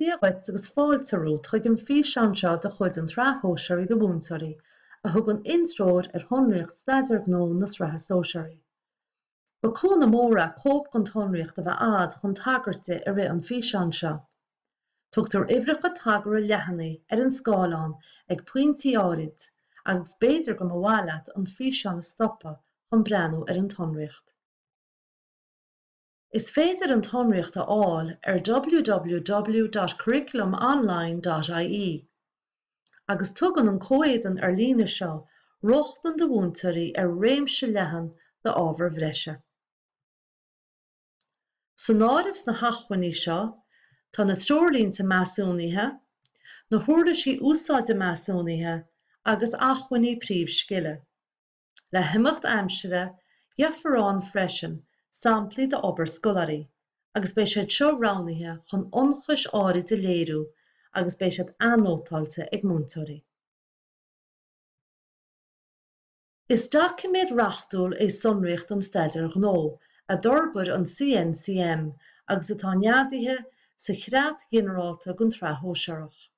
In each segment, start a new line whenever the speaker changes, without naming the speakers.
Dia dhuit agus fáilte romhat chuig an bhfíseán seo de chuid an tSraith Shóisearaigh do Mhúinteoirí, a thugann intreoir ar shonraíocht staidéir gnó na Sraithe Sóisearaí. Ba chúnamh mór é cóip den tsonraíocht a bheith agat chun tagairt di i rith an físeáin seo. Tugtar uimhreacha tagartha leathanaigh ar an scáileán ag pointí áirid agus b'fhéidir go mba mhaith leat an físeán a stopadh chun breathnú ar an tsonraíocht. Is féidir an tsonraíocht a fháil ar www.curriculumonline.ie agus tugann an comhéadan ar líne seo rochtain do mhúinteoirí ar réimse leathan d'ábhair bhreise. San áireamh sna hacmhainní seo tá na Treoirlínte Measúnaithe, na hUirlisí Úsáide Measúnaithe agus Acmhainní Príomhscile. Le himeacht aimsire, gheofar ann freisin samplaí d'obair scoláirí agus beidh siad seo roghnaithe chun ionchais áirid a léiriú agus beidh siad anótáilte ag múinteoirí. Is doiciméad reachtúil é Sonraíocht an Staidéir Ghnó a d'fhorbair an CNCM agus atá neadaithe sa Chreat Ghinearálta don tSraith Shóisearach.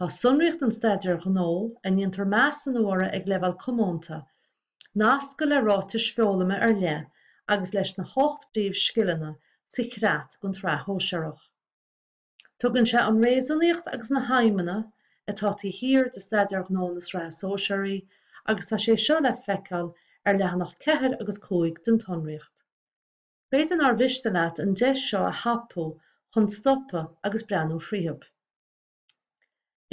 Tá sonraíocht an staidéir ghnó, a ndéantar measúnú uirthi ag leibhéal comónta, nasctha le ráitis foghlama ar leith agus leis na hocht bpríomhscileanna sa chreat don tsraith shóisearach. Tugann sé an réasúnaíocht agus na haidhmeanna atá taobh thiar de staidéar gnó na sraithe sóisearaí agus tá sé seo le feiceáil ar leathanach 4 agus 5 den tsonraíocht. B'fhéidir nár mhiste leat an deis seo a thapú chun stopadh agus breathnú thríothu.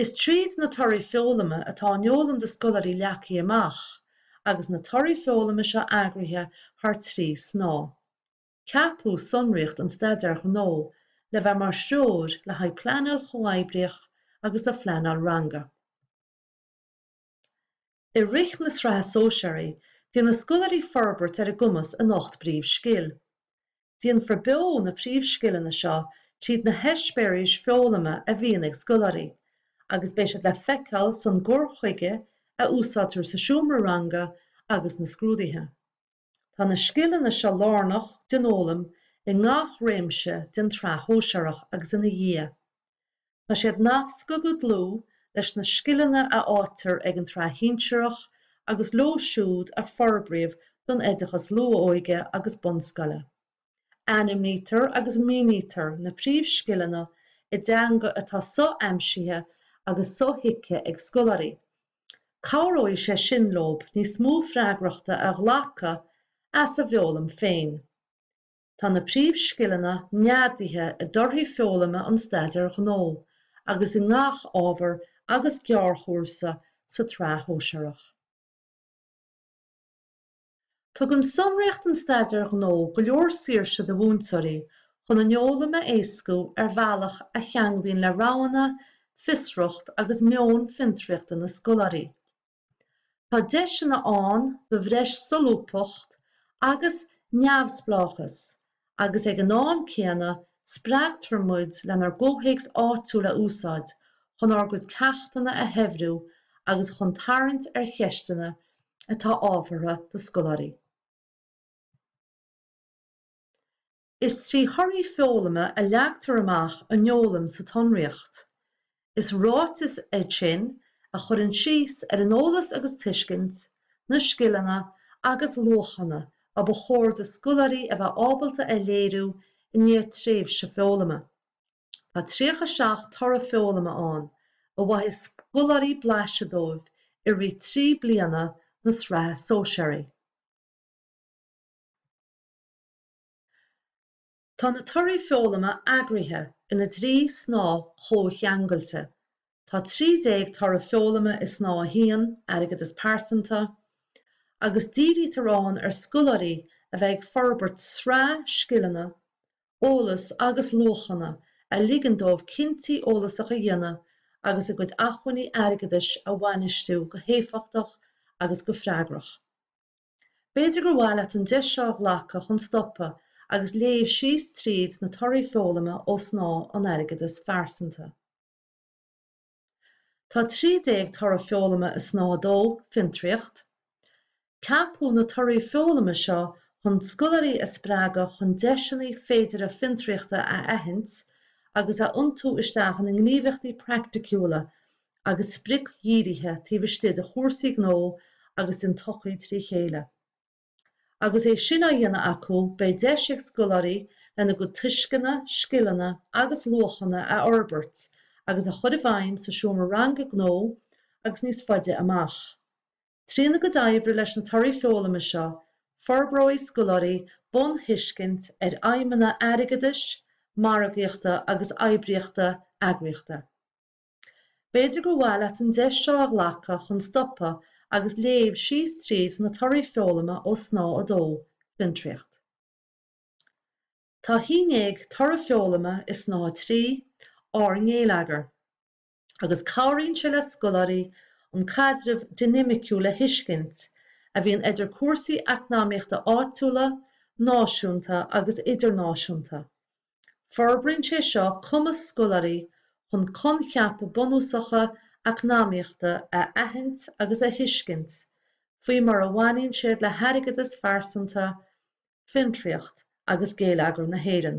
Is tríd na torthaí foghlama atá an fhoghlaim do Scoláirí leagtha amach, agus na torthaí foghlama seo eagraithe thar trí shnáithe. Ceapadh sonraíocht an Staidéir Ghnó le bheith mar threoir le haghaidh pleanáil chomhoibríoch agus do phleanáil ranga. I rith na Sraithe Sóisearaí, déanfaidh scoláirí forbairt ar a gcumas in ocht bpríomhscil. Déanfar beo na príomhscileanna seo tríd na heispéiris foghlama a bhíonn ag scoláirí, agus beidh siad le feiceáil san gcur chuige a úsáidtear sa seomra ranga agus na scrúduithe. Tá na scileanna seo lárnach don fhoghlaim i ngach réimse den tSraith Shóisearach agus ina dhiaidh. Tá siad nasctha go dlúth leis na scileanna a éilítear ag an tSraith Shinsearach agus leo siúd a forbraíodh don oideachas luath-óige agus bunscoile. Ainmnítear agus mínítear na príomhscileanna i dteanga atá so-aimsithe agus so-thuigthe ag scoláirí, Cabhróidh sé sin leo níos mó freagrachta a ghlacadh as a bhfoghlaim féin. Tá na príomhscileanna neadaithe i dtorthaí foghlama an Staidéir Ghnó agus i ngach ábhar agus gearrchúrsa sa tSraith Shóisearach. Tugann sonraíocht an staidéir ghnó go leor saoirse do mhúinteoirí chun an fhoghlaim a éascú ar bhealach a cheanglaíonn le roghanna, fiosracht agus meon fiontraíochta na scoláirí. Tá deiseanna ann do bhreis solúbthachta agus neamhspleáchas agus ag an am céanna spreagtar muid lenár gcomhthéacs áitiúil a úsáid chun ár gcuid ceachtanna a shaibhriú agus chun tarraingt ar cheisteanna atá ábhartha do scoláirí. Is trí thorthaí foghlama a leagtar amach an fhoghlaim sa tsonraíocht. Is ráiteas é sin a chuireann síos ar an eolas agus tuiscint, na scileanna agus luachanna ba chóir do scoláirí a bheith ábalta a léiriú i ndiaidh tréimhse foghlama. Tá tríocha seacht toradh foghlama ann a bhfaighidh scoláirí blaiseadh díobh i rith trí bliana na Sraithe Sóisearaí. Tá na torthaí foghlama eagraithe ina dtrí shnáth chomhcheangailte. Tá 13 toradh foghlama i Snáth 1, Airgeadas Pearsanta, agus dírítear ann ar scoláirí a bheith ag forbairt sraith scileanna, eolas agus luachanna a ligeann dóibh cinntí eolasach a dhéanamh agus a gcuid acmhainní airgeadais a bhainistiú go héifeachtach agus go freagrach. B'fhéidir gur mhaith leat an deis seo a ghlacadh chun stopadh agus léamh síos tríd na torthaí foghlama ó Snáth an Airgeadais Phearsanta. Tá trí déag toradh foghlama i Snáth a Dó, Fiontraíocht. Ceapadh na torthaí foghlama seo chun scoláirí a spreagadh chun deiseanna féideartha fiontraíochta a aithint agus a iontú isteach ina ngníomhaíochtaí praiticiúla agus spriocdhírithe taobh istigh de chúrsaí gnó agus den tsochaí trí chéile. Agus é sin á dhéanamh acu, beidh deis ag scoláirí lena gcuid tuisceana, scileanna agus luachanna a fhorbairt agus a chur i bhfeidhm sa seomra ranga gnó agus níos faide amach. Trína gcuid oibre leis na Torthaí Foghlama seo, forbróidh scoláirí bunthuiscint ar fheidhmeanna airgeadais, margaíochta agus oibríochta eagraíochta. B'fhéidir gur mhaith leat an deis seo a ghlacadh chun stopadh agus léamh síos tríd na torthaí foghlama ó Snáithe 2, Fiontraíocht. Tá trí dhéag toradh foghlama i Snáithe 3, Ár nGéilleagar, agus cabhraíonn sé le scoláirí an caidreamh dinimiciúil a thuiscint a bhíonn idir cúrsaí eacnamaíochta áitiúla, náisiúnta agus idirnáisiúnta Forbraíonn sé seo cumas scoláirí chun coincheapa bunúsacha eacnamaíochta a aithint agus a thuiscint faoi mar a bhaineann siad le hairgeadas pearsanta, fiontraíocht agus géilleagar na hÉireann.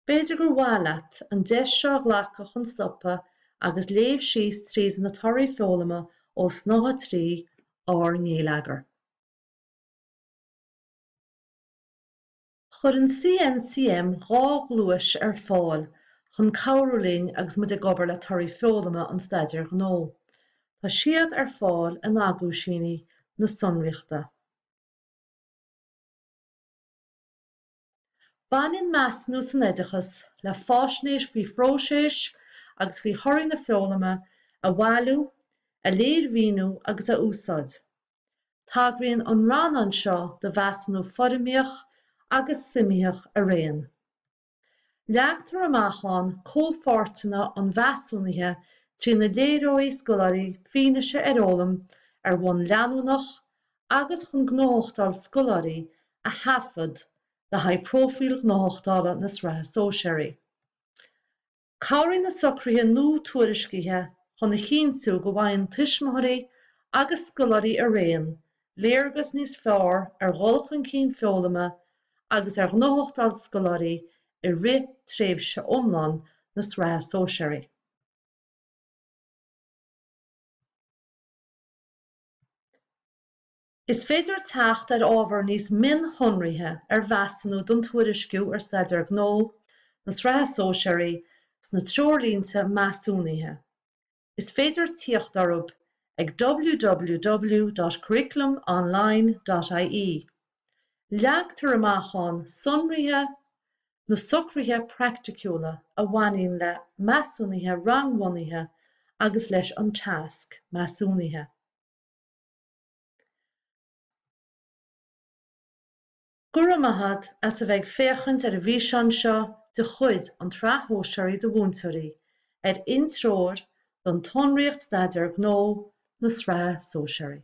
B'fhéidir gur mhaith leat an deis seo a ghlacadh chun stopadh agus léamh síos tríd na torthaí foghlama ó Snáithe 3, Ár nGéilleagar. Chuir an CNCM dhá ghluais ar fáil chun cabhrú linn agus muid ag obair le torthaí foghlama an Staidéir Ghnó. Tá siad ar fáil in Aguisíní na sonraíochta. Baineann Measúnú san Oideachas le faisnéis faoi phróiseas agus faoi thorthaí na foghlama a bhailiú, a léirmhíniú agus a úsáid. Tagraíonn an rannán seo do mheasúnú foirmitheach agus suimitheach araon. Leagtar amach ann comhpháirteanna an mheasúnaithe trína léireoidh scoláirí fianaise ar fhoghlaim ar bhonn leanúnach agus chun gnóthachtáil scoláirí a thaifead le haghaidh Próifíl Ghnóthachtála na Sraithe Sóisearaí. Cabhraíonn na socruithe nua tuairiscithe chun a chinntiú go bhfaigheann tuismitheoirí agus scoláirí araon léargas níos fearr ar dhul chun cinn foghlama agus ar ghnóthachtáil scoláirí i rith tréimhse iomlán na Sraithe Sóisearaí. Is féidir teacht ar ábhar níos mionshonraithe ar mheasúnú don tuairisciú ar Staidéar Gnó na Sraithe Sóisearaí sna Treoirlínte Measúnaithe. Is féidir tíocht orthu ag www.curriculumonline.ie. Leagtar amach ann sonraithe na socruithe praiticiúla a bhaineann le measúnuithe rangbhunaithe agus leis an tasc measúnaithe. Go raibh maith a't as a bheith ag féachaint ar an bhfíseán seo de chuid an tSraith Shóisearach do Mhúinteoirí ar Intreoir don tSonraíocht Staidéar Gnó na Sraithe Sóisearaí.